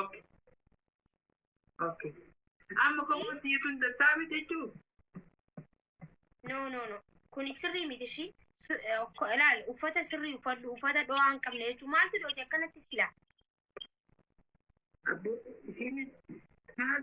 Okay. Okay. Amma komoon sii kun dassaa miti jechuu? No, no, no. Kuni sirrii miti ishii. Su- eh, ko- Ilaali, uffata sirrii uffadhu, uffata dho'aa hin qabne jechuun maaltu dhoose akkanatti silaa? Abbo isiin maal?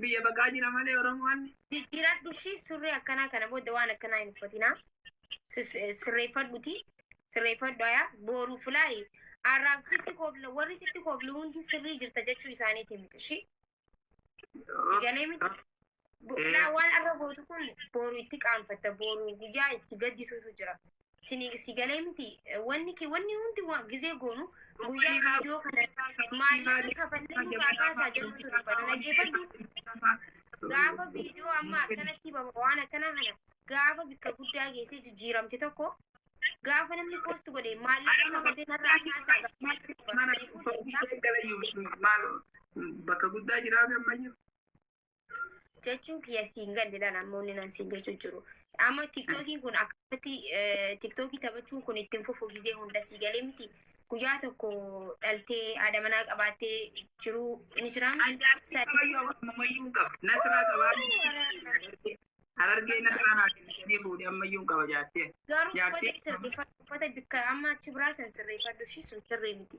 Biyya baqaa jira malee Oromoon. Jijjiiradhu ishii surree akkanaa kana booda waan akkanaa hin uffatinaa. Sis- eh, Sirreeffadhuti. Sirreeffadhu ayaa booruu fulaayi. Arraab sitti koobla warri sitti kooblu hundi sirrii jirta jechuu isaaniiti miti ishii. Si galee miti. Bo- Eh. Laa waan arra gootu kun booru itti qaanfatta booru guyyaa itti gaddituutu jira. sini si galee miti wanni kee wanni hundi waa gizee goonu guyyaa viidiyoo kana maallaqa kafallee nu kaakaasaa jedhutu dubbata dhageeffadhu gaafa viidiyoo amma akkanatti baba waan akkana kana gaafa bikka guddaa geessee jijjiiramte tokko gaafa namni poost godhe maallaqa kafallee narraa kaasaa gaafa bakka guddaa jiraatu ammayyu jechuun kiyya siin galleedhaan amma inni naan siin jechuu jiru. Amma tiktookiin kun akkamitti tiktookii taphachuun kun ittiin fufu gisee hunda sii galee miti. Guyyaa tokko dhaltee haadha manaa qabaattee jiruu ni jiraa. Harargee nasraa naa kennitanii fuudhee ammayyuu qaba jaattee. Garuu Jaattee- uffata sirreeffadhu uffata bikka amma achi biraa san sirreeffadhu ishii sun sirrii miti.